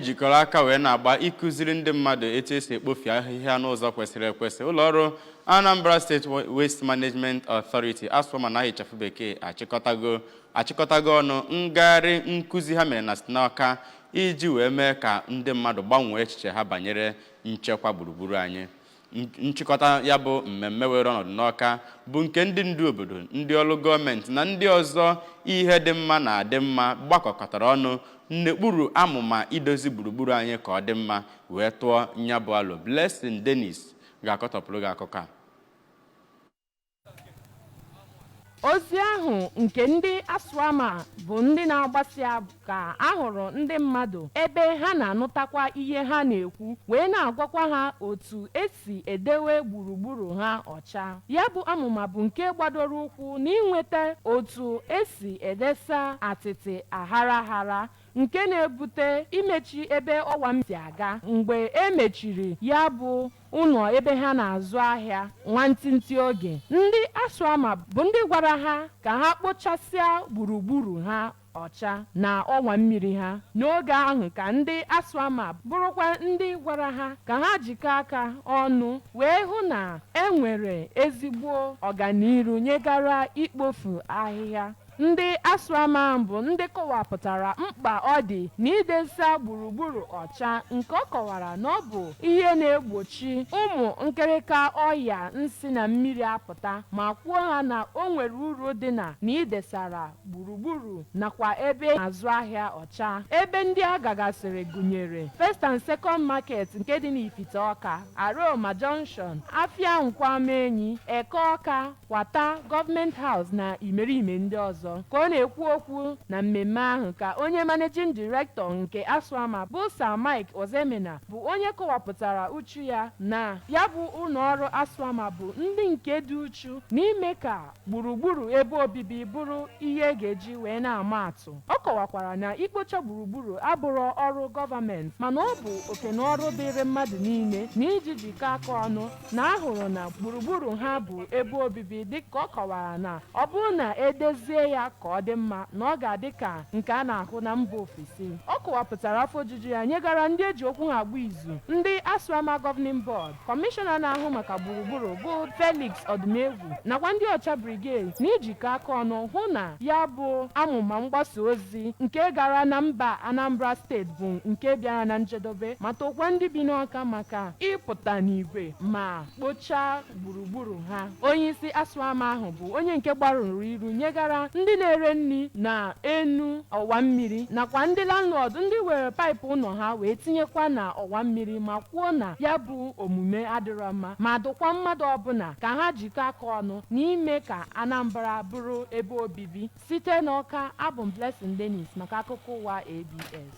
jikọrọ aka wee na-agba ịkụziri ndị mmadụ etu esi ekpofu ahịhịa n'ụzọ kwesịrị ekwesị ụlọọrụ Anambra State Waste Management Authority ASWAMA n'aha ịchafụ bekee achịkọtago ọnụ ngagharị nkụzi ha mere na st n'Ọka iji wee mee ka ndị mmadụ gbanwee echiche ha banyere nchekwa gburugburu anyị nchịkọta ya bụ mmemme were ọnọdụ n'Ọka bụ nke ndị ndu obodo ndị ọrụ gọọmenti na ndị ọzọ ihe dị mma na-adị mma gbakọkọtara ọnụ n'okpuru amụma idozi gburugburu anyị ka ọ dị mma wee tụọ nya bụ alo Blessing Dennis ga-akọtọpụrụ gị akụkọ a ozi ahụ nke ndị ASWAMA bụ ndị na-agbasa ahụ ka a hụrụ ndị mmadụ ebe ha na-anụtakwa ihe ha na-ekwu wee na-agwakwa ha otu esi edewe gburugburu ha ọcha ya bụ amụma bụ nke gbadoro ụkwụ n'inweta otu esi edesa atịtị aghara aghara nke na-ebute imechi ebe ọwa mmiri si aga mgbe e mechiri ya bụ ụlọ ebe ha na-azụ ahịa nwantịntị oge, ndị ASWAMA bụ ndị gwara ha ka ha kpochasịa gburugburu ha ọcha na ọwa mmiri ha. N'oge ahụ ka ndị ASWAMA bụrụkwa ndị gwara ha ka ha jikọọ aka ọnụ wee hụ na e nwere ezigbo ọganiru nyegara ikpofu ahịhịa. Ndị ASWAMA bụ ndị kọwapụtara mkpa ọ dị n'idesa gburugburu ọcha nke ọ kọwara na ọ bụ ihe na-egbochi ụmụ nkịrịka ọya na-esi na mmiri apụta ma kwuo ha na o nwere uru dị na na idesara gburugburu nakwa ebe a na-azụ ahịa ọcha. Ebe ndị a gagasịrị gụnyere First and Second Market nke dị n'Ifite Ọka, Aroma Junction, Afịa Nkwọ Amaenyi, Eke Ọka, Kwata, Government House na imerime ndị ọzọ. Ka ọ na-ekwu okwu na mmemme ahụ ka onye Managing Director nke ASWAMA bụ Sir Mike Ozoemena bụ onye kọwapụtara uchu ya na ya bụ ụlọọrụ ASWAMA bụ ndị nke dị uchu n'ime ka gburugburu ebe obibi bụrụ ihe e ga-eji wee na-ama atụ. Ọ kọwakwara na ikpocha gburugburu abụrọ ọrụ gọọmenti mana ọ bụ oke na ọrụ dịịrị mmadụ niile na iji jikọ aka ọnụ na a hụrụ na gburugburu ha bụ ebe obibi dịka ọ kọwara na ọ bụrụ na e dezie ya ka ọ dị mma na ọ ga-adị ka nke a na-ahụ na mba ofesi ọ kọwapụtara afọ ojuju ya nyegara ndị e ji okwu ha agba izu ndị ASWAMA Governing Board kọmishọna na-ahụ maka gburugburu bụ Felix Odimegwu nakwa ndị Ọcha Brigade na ijikọ aka ọnụ hụ na ya bụ amụma mgbasa ozi ozi nke gara na mba Anambra steeti bụ nke bịara na njedobe ma tokwa ndị bi n'Awka maka ịpụta n'igwe ma kpochaa gburugburu ha. Onyeisi ASWAMA ahụ bụ onye nke gbarụrụ iru nyegara ndị na-ere nri na enu ọwa mmiri nakwa ndị landlord ndị were paịpụ ụlọ ha wee tinyekwa na ọwa mmiri ma kwuo na ya bụ omume adịrọ mma ma dụkwa mmadụ ọbụla ka ha jikọ aka ọnụ n'ime ka Anambra bụrụ ebe obibi. Site n'Awka, abụ m Blessing Dennis maka akụkọ ụwa ABS.